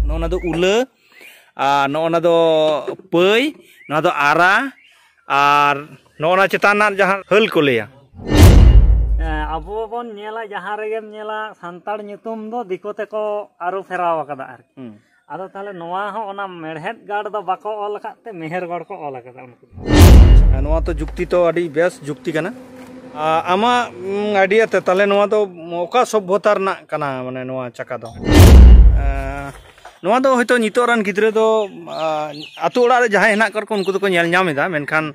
ᱱᱚᱜᱼᱚᱱᱟ ᱫᱚ ᱩᱞᱟᱹ ᱟᱨ ᱱᱚᱜᱼᱚᱱᱟ ᱫᱚ ᱯᱟᱹᱭ ᱱᱚᱣᱟ ᱫᱚ ᱟᱨᱟ ᱟᱨ ᱱᱚᱜᱼᱚᱱᱟ ᱪᱮᱛᱟᱱ ᱨᱮᱱᱟᱜ ᱡᱟᱦᱟᱸ ᱦᱟᱹᱞ ᱠᱚ ᱞᱟᱹᱭᱟ ᱟᱵᱚ ᱵᱚᱱ ᱧᱮᱞᱟ ᱡᱟᱦᱟᱸ ᱨᱮᱜᱮᱢ ᱧᱮᱞᱟ ᱥᱟᱱᱛᱟᱲ ᱧᱩᱛᱩᱢ ᱫᱚ ᱫᱤᱠᱩ ᱛᱮᱠᱚ ᱟᱹᱨᱩ ᱯᱷᱮᱨᱟᱣ ᱟᱠᱟᱫᱟ ᱟᱨᱠᱤ ᱟᱫᱚ ᱛᱟᱦᱚᱞᱮ ᱱᱚᱣᱟ ᱦᱚᱸ ᱚᱱᱟ ᱢᱮᱲᱦᱮᱫ ᱜᱟᱲ ᱫᱚ ᱵᱟᱠᱚ ᱚᱞ ᱟᱠᱟᱫ ᱛᱮ ᱢᱮᱦᱮᱨ ᱜᱟᱲ ᱠᱚ ᱚᱞ ᱟᱠᱟᱫᱟ ᱩᱱᱠᱩ ᱱᱚᱣᱟ ᱛᱚ ᱡᱩᱠᱛᱤ ᱛᱚ ᱟᱹᱰᱤ ᱵᱮᱥ ᱡᱩᱠᱛᱤ ᱠᱟᱱᱟ ᱟᱢᱟᱜ ᱟᱭᱰᱤᱭᱟ ᱛᱮ ᱛᱟᱦᱚᱞᱮ ᱱᱚᱣᱟ ᱫᱚ ᱚᱠᱟ ᱥᱚᱵᱷᱚᱛᱟ ᱨᱮᱱᱟᱜ ᱠᱟᱱᱟ ᱢᱟᱱᱮ ᱱᱚᱣᱟ ᱪᱟᱠᱟ ᱫᱚ ᱱᱚᱣᱟ ᱫᱚ ᱦᱚᱭᱛᱳ ᱱᱤᱛᱚᱜ ᱨᱮᱱ ᱜᱤᱫᱽᱨᱟᱹ ᱫᱚ ᱟᱛᱳ ᱚᱲᱟᱜ ᱨᱮ ᱡᱟᱦᱟᱸᱭ ᱦᱮᱱᱟᱜ ᱠᱟᱜ ᱠᱚ ᱩᱱᱠᱩ ᱫᱚᱠᱚ ᱧᱮᱞ ᱧᱟᱢ ᱮᱫᱟ ᱢᱮᱱᱠᱷᱟᱱ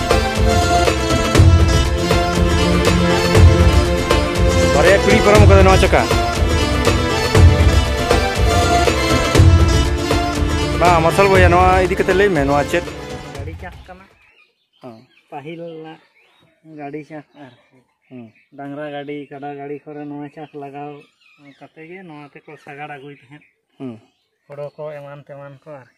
ᱵᱟᱨᱭᱟ ᱯᱤᱲᱦᱤ ᱯᱟᱨᱚᱢ ᱠᱟᱫᱟ ᱱᱚᱣᱟ ᱪᱟᱠᱟ ᱵᱟᱝ ᱢᱟᱨᱥᱟᱞ ᱵᱚᱭᱟ ᱱᱚᱣᱟ ᱤᱫᱤ ᱠᱟᱛᱮ ᱞᱟᱹᱭ ᱢᱮ ᱱᱚᱣᱟ ᱪᱮᱫ ᱜᱟᱹᱰᱤ ᱪᱟᱥ ᱠᱟᱱᱟ ᱯᱟᱹᱦᱤᱞ ᱨᱮᱱᱟᱜ ᱜᱟᱹᱰᱤ ᱪᱟᱥ ᱟᱨ ᱰᱟᱝᱨᱟ ᱜᱟᱹᱰᱤ ᱠᱟᱰᱟ ᱜᱟᱹᱰᱤ ᱠᱚᱨᱮ ᱱᱚᱣᱟ ᱪᱟᱥ ᱞᱟᱜᱟᱣ ᱠᱟᱛᱮ ᱜᱮ ᱱᱚᱣᱟ ᱛᱮᱠᱚ ᱥᱟᱜᱟᱲ ᱟᱹᱜᱩᱭ ᱛᱟᱦᱮᱸᱫ ᱦᱳᱲᱳ ᱠᱚ ᱮᱢᱟᱱ ᱛᱮᱢᱟᱱ ᱠᱚ ᱟᱨᱠᱤ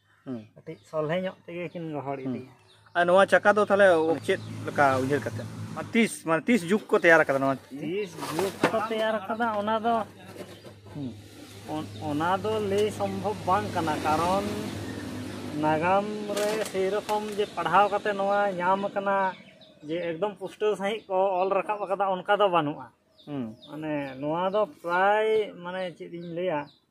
ᱠᱟᱹᱴᱤᱡ ᱥᱚᱞᱦᱮ ᱧᱚᱜ ᱛᱮᱜᱮ ᱠᱤᱱ ᱜᱚᱦᱚᱲ ᱤᱫᱤᱭᱟ ᱟᱨ ᱱᱚᱣᱟ ᱪᱟᱠᱟ ᱫᱚ ᱛᱟᱦᱚᱞᱮ ᱪᱮᱫ ᱞᱮᱠᱟ ᱩᱭᱦᱟᱹᱨ ᱠᱟᱛᱮ ᱛᱤᱥ ᱢᱟᱱᱮ ᱛᱤᱥ ᱡᱩᱜᱽ ᱠᱚ ᱛᱮᱭᱟᱨ ᱟᱠᱟᱫᱟ ᱱᱚᱣᱟ ᱛᱤᱥ ᱡᱩᱜᱽ ᱠᱚ ᱛᱮᱭᱟᱨ ᱟᱠᱟᱫᱟ ᱚᱱᱟ ᱫᱚ ᱚᱱᱟ ᱫᱚ ᱞᱟᱹᱭ ᱥᱚᱢᱵᱷᱚᱵ ᱵᱟᱝ ᱠᱟᱱᱟ ᱠᱟᱨᱚᱱ ᱱᱟᱜᱟᱢ ᱨᱮ ᱥᱮᱭ ᱨᱚᱠᱚᱢ ᱡᱮ ᱯᱟᱲᱦᱟᱣ ᱠᱟᱛᱮ ᱱᱚᱣᱟ ᱧᱟᱢ ᱟᱠᱟᱱᱟ ᱡᱮ ᱮᱠᱫᱚᱢ ᱯᱩᱥᱴᱟᱹᱣ ᱥᱟᱺᱦᱤᱡ ᱠᱚ ᱚᱞ ᱨᱟᱠᱟᱵ ᱟᱠᱟᱫᱟ ᱚᱱᱠᱟ ᱫᱚ ᱵᱟᱹᱱᱩᱜᱼᱟ ᱢᱟᱱᱮ ᱱᱚᱣᱟ ᱫᱚ ᱯᱨᱟᱭ ᱢᱟᱱᱮ ᱪᱮᱫ ᱤᱧ ᱞᱟᱹᱭᱟ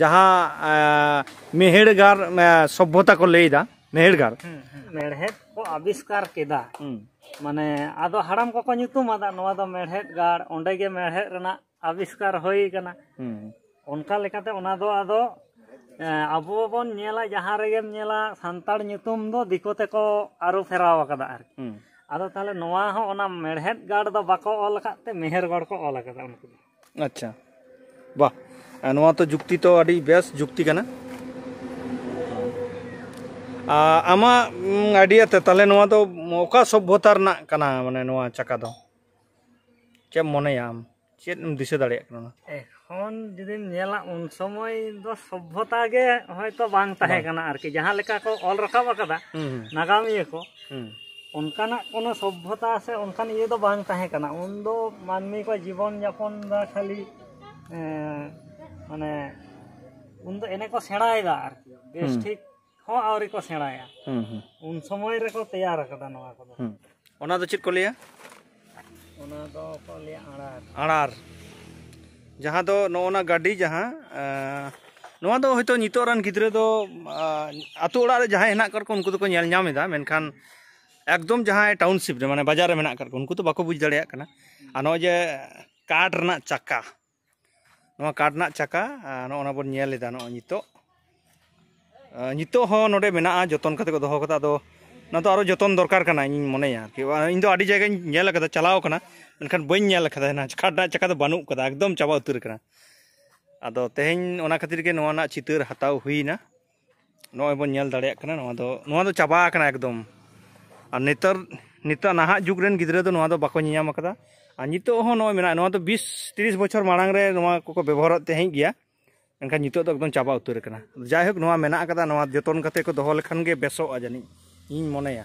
ᱡᱟᱦᱟᱸ ᱢᱮᱦᱮᱲᱜᱟᱨ ᱥᱚᱵᱷᱚᱛᱟ ᱠᱚ ᱞᱟᱹᱭᱫᱟ ᱢᱮᱦᱮᱲᱜᱟᱨ ᱢᱮᱲᱦᱮᱫ ᱠᱚ ᱟᱵᱤᱥᱠᱟᱨ ᱠᱮᱫᱟ ᱢᱟᱱᱮ ᱟᱫᱚ ᱦᱟᱲᱟᱢ ᱠᱚᱠᱚ ᱧᱩᱛᱩᱢ ᱟᱫᱟ ᱱᱚᱣᱟ ᱫᱚ ᱢᱮᱲᱦᱮᱫ ᱜᱟᱲ ᱚᱸᱰᱮ ᱜᱮ ᱢᱮᱲᱦᱮᱫ ᱨᱮᱱᱟᱜ ᱟᱵᱤᱥᱠᱟᱨ ᱦᱩᱭ ᱠᱟᱱᱟ ᱚᱱᱠᱟ ᱞᱮᱠᱟᱛᱮ ᱚᱱᱟ ᱫᱚ ᱟᱫᱚ ᱟᱵᱚ ᱵᱚᱱ ᱧᱮᱞᱟ ᱡᱟᱦᱟᱸ ᱨᱮᱜᱮᱢ ᱧᱮᱞᱟ ᱥᱟᱱᱛᱟᱲ ᱧᱩᱛᱩᱢ ᱫᱚ ᱫᱤᱠᱩ ᱛᱮᱠᱚ ᱟᱹᱨᱩ ᱯᱷᱮᱨᱟᱣ ᱟᱠᱟᱫᱟ ᱟᱨᱠᱤ ᱟᱫᱚ ᱛᱟᱦᱚᱞᱮ ᱱᱚᱣᱟ ᱦᱚᱸ ᱚᱱᱟ ᱢᱮᱲᱦᱮᱫ ᱜᱟᱲ ᱫᱚ ᱵᱟᱠᱚ ᱚᱞ ᱟᱠᱟᱫ ᱛᱮ ᱢᱮᱦᱮᱨ ᱜᱟᱲ ᱠᱚ ᱚᱞ ᱟᱠᱟᱫᱟ ᱩᱱᱠᱩ ᱫᱚ ᱟᱪᱪᱷᱟ ᱵᱟᱦ ᱱᱚᱣᱟ ᱛᱚ ᱡᱩᱠᱛᱤ ᱛᱚ ᱟᱹᱰᱤ ᱵᱮᱥ ᱡᱩᱠᱛᱤ ᱠᱟᱱᱟ ᱟᱢᱟᱜ ᱟᱭᱰᱤᱭᱟ ᱛᱮ ᱛᱟᱦᱚᱞᱮ ᱱᱚᱣᱟ ᱫᱚ ᱚᱠᱟ ᱥᱚᱵᱽᱵᱷᱚᱛᱟ ᱨᱮᱱᱟᱜ ᱠᱟᱱᱟ ᱢᱟᱱᱮ ᱱᱚᱣᱟ ᱪᱟᱠᱟ ᱫᱚ ᱪᱮᱫ ᱮᱢ ᱢᱚᱱᱮᱭᱟ ᱟᱢ ᱪᱮᱫ ᱮᱢ ᱫᱤᱥᱟᱹ ᱫᱟᱲᱮᱭᱟᱜ ᱠᱟᱱᱟ ᱮᱠᱷᱚᱱ ᱡᱩᱫᱤᱢ ᱧᱮᱞᱟ ᱩᱱ ᱥᱚᱢᱚᱭ ᱫᱚ ᱥᱚᱵᱽᱵᱷᱚᱛᱟ ᱜᱮ ᱦᱚᱭᱛᱚ ᱵᱟᱝ ᱛᱟᱦᱮᱸ ᱠᱟᱱᱟ ᱟᱨᱠᱤ ᱡᱟᱦᱟᱸ ᱞᱮᱠᱟ ᱠᱚ ᱚᱞ ᱨᱟᱠᱟᱵ ᱟᱠᱟᱫᱟ ᱱᱟᱜᱟᱢᱤᱭᱟᱹ ᱠᱚ ᱚᱱᱠᱟᱱᱟᱜ ᱠᱳᱱᱳ ᱥᱚᱵᱵᱷᱚᱛᱟ ᱥᱮ ᱚᱱᱠᱟᱱ ᱤᱭᱟᱹ ᱫᱚ ᱵᱟᱝ ᱛᱟᱦᱮᱸ ᱠᱟᱱᱟ ᱩᱱ ᱫᱚ ᱢᱟᱹᱱᱢᱤ ᱠᱚ ᱡᱤᱵᱚᱱ ᱡᱟᱯᱚᱱ ᱫᱚ ᱠᱷᱟᱹᱞᱤ ᱢᱟᱱᱮ ᱩᱱ ᱫᱚ ᱮᱱᱮ ᱠᱚ ᱥᱮᱬᱟᱭᱮᱫᱟ ᱟᱨᱠᱤ ᱵᱮᱥ ᱴᱷᱤᱠ ᱦᱚᱸ ᱟᱹᱣᱨᱤ ᱠᱚ ᱥᱮᱬᱟᱭᱟ ᱩᱱ ᱥᱚᱢᱚᱭ ᱨᱮᱠᱚ ᱛᱮᱭᱟᱨ ᱟᱠᱟᱫᱟ ᱱᱚᱣᱟ ᱠᱚᱫᱚ ᱚᱱᱟ ᱫᱚ ᱪᱮᱫ ᱠᱚ ᱞᱟᱹᱭᱟ ᱚᱱᱟ ᱫᱚ ᱠᱚ ᱞᱟᱹᱭᱟ ᱟᱲᱟᱨ ᱟᱲᱟᱨ ᱡᱟᱦᱟᱸ ᱫᱚ ᱱᱚᱜᱼᱚ ᱱᱟ ᱜᱟᱹᱰᱤ ᱡᱟᱦᱟᱸ ᱱᱚᱣᱟ ᱫᱚ ᱦᱚᱭᱛᱳ ᱱᱤᱛᱚᱜ ᱨᱮᱱ ᱜᱤᱫᱽᱨᱟᱹ ᱫᱚ ᱟᱛᱳ ᱚᱲᱟᱜ ᱨᱮ ᱡᱟᱦᱟᱸᱭ ᱦᱮᱱᱟᱜ ᱠᱟᱫ ᱠᱚ ᱩᱱᱠᱩ ᱫᱚᱠᱚ ᱧᱮᱞ ᱧᱟᱢ ᱮᱫᱟ ᱢᱮᱱᱠᱷᱟᱱ ᱮᱠᱫᱚᱢ ᱡᱟᱦᱟᱸᱭ ᱴᱟᱣᱩᱱᱥᱤᱯ ᱨᱮ ᱢᱟᱱᱮ ᱵᱟᱡᱟᱨ ᱨᱮ ᱢᱮᱱᱟᱜ ᱠᱟᱫ ᱠᱚ ᱩᱱᱠᱩ ᱫᱚ ᱵᱟᱠᱚ ᱵᱩᱡᱽ ᱫᱟᱲᱮᱭᱟᱜ ᱠᱟᱱᱟ ᱟᱨ ᱱᱚᱜᱼᱚᱭ ᱡᱮ ᱠᱟᱴ ᱨᱮᱱᱟᱜ ᱪᱟᱠᱟ ᱱᱚᱣᱟ ᱠᱟᱴ ᱨᱮᱱᱟᱜ ᱪᱟᱠᱟ ᱱᱚᱜᱼᱚ ᱱᱟ ᱵᱚᱱ ᱧᱮᱞ ᱮᱫᱟ ᱱᱚᱜᱼᱚᱭ ᱱᱤᱛᱚᱜ ᱱᱤᱛᱚᱜ ᱦᱚᱸ ᱱᱚᱰᱮ ᱢᱮᱱᱟᱜᱼᱟ ᱡᱚᱛᱚᱱ ᱠᱟᱛᱮ ᱠᱚ ᱫᱚᱦᱚ ᱠᱟᱫᱟ ᱟᱫᱚ ᱚᱱᱟ ᱫᱚ ᱟᱨᱚ ᱡᱚᱛᱚᱱ ᱫᱚᱨᱠᱟᱨ ᱠᱟᱱᱟ ᱤᱧᱤᱧ ᱢᱚᱱᱮᱭᱟ ᱟᱨᱠᱤ ᱤᱧ ᱫᱚ ᱟᱹᱰᱤ ᱡᱟᱭᱜᱟᱧ ᱧᱮᱞ ᱠᱟᱫᱟ ᱪᱟᱞᱟᱣ ᱠᱟᱱᱟ ᱢᱮᱱᱠᱷᱟᱱ ᱵᱟᱹᱧ ᱧᱮᱞ ᱠᱟᱫᱟ ᱚᱱᱟ ᱠᱟᱴ ᱨᱮᱱᱟᱜ ᱪᱟᱠᱟ ᱫᱚ ᱵᱟᱹᱱᱩᱜ ᱠᱟᱫᱟ ᱮᱠᱫᱚᱢ ᱪᱟᱵᱟ ᱩᱛᱟᱹᱨ ᱠᱟᱱᱟ ᱟᱫᱚ ᱛᱮᱦᱮᱧ ᱚᱱᱟ ᱠᱷᱟᱹᱛᱤᱨ ᱜᱮ ᱱᱚᱣᱟ ᱨᱮᱱᱟᱜ ᱪᱤᱛᱟᱹᱨ ᱦᱟᱛᱟᱣ ᱦᱩᱭᱱᱟ ᱱᱚᱜᱼᱚᱭ ᱵᱚᱱ ᱧᱮᱞ ᱫᱟᱲᱮᱭᱟᱜ ᱠᱟᱱᱟ ᱱᱚᱣᱟ ᱫᱚ ᱱᱚᱣᱟ ᱫᱚ ᱪᱟᱵᱟ ᱟᱠᱟᱱᱟ ᱮᱠᱫᱚᱢ ᱟᱨ ᱱᱮᱛᱟᱨ ᱱᱤᱛᱚᱜ ᱱᱟᱦᱟᱜ ᱡᱩᱜᱽ ᱨᱮᱱ ᱜᱤᱫᱽᱨᱟᱹ ᱫᱚ ᱱᱚᱣᱟ ᱫᱚ ᱵᱟᱠᱚ ᱧᱮᱧᱟᱢ ᱟᱠᱟᱫᱟ ᱟᱨ ᱱᱤᱛᱚᱜ ᱦᱚᱸ ᱱᱚᱜᱼᱚᱭ ᱢᱮᱱᱟᱜᱼᱟ ᱱᱚᱣᱟ ᱫᱚ ᱵᱤᱥ ᱛᱤᱨᱤᱥ ᱵᱚᱪᱷᱚᱨ ᱢᱟᱲᱟᱝ ᱨᱮ ᱱᱚᱣᱟ ᱠᱚᱠᱚ ᱵᱮᱵᱚᱦᱟᱨᱚᱜ ᱛᱟᱦᱮᱸᱫ ᱜᱮᱭᱟ ᱮᱱᱠᱷᱟᱱ ᱱᱤᱛᱚᱜ ᱫᱚ ᱮᱠᱫᱚᱢ ᱪᱟᱵᱟ ᱩᱛᱟᱹᱨ ᱟᱠᱟᱱᱟ ᱡᱟᱭᱦᱳᱠ ᱱᱚᱣᱟ ᱢᱮᱱᱟᱜ ᱟᱠᱟᱫᱟ ᱱᱚᱣᱟ ᱡᱚᱛᱚᱱ ᱠᱟᱛᱮ ᱠᱚ ᱫᱚᱦᱚ ᱞᱮᱠᱷᱟᱱ ᱜᱮ ᱵᱮᱥᱚᱜᱼᱟ ᱡᱟᱹᱱᱤᱡ ᱤᱧ ᱢᱚᱱᱮᱭᱟ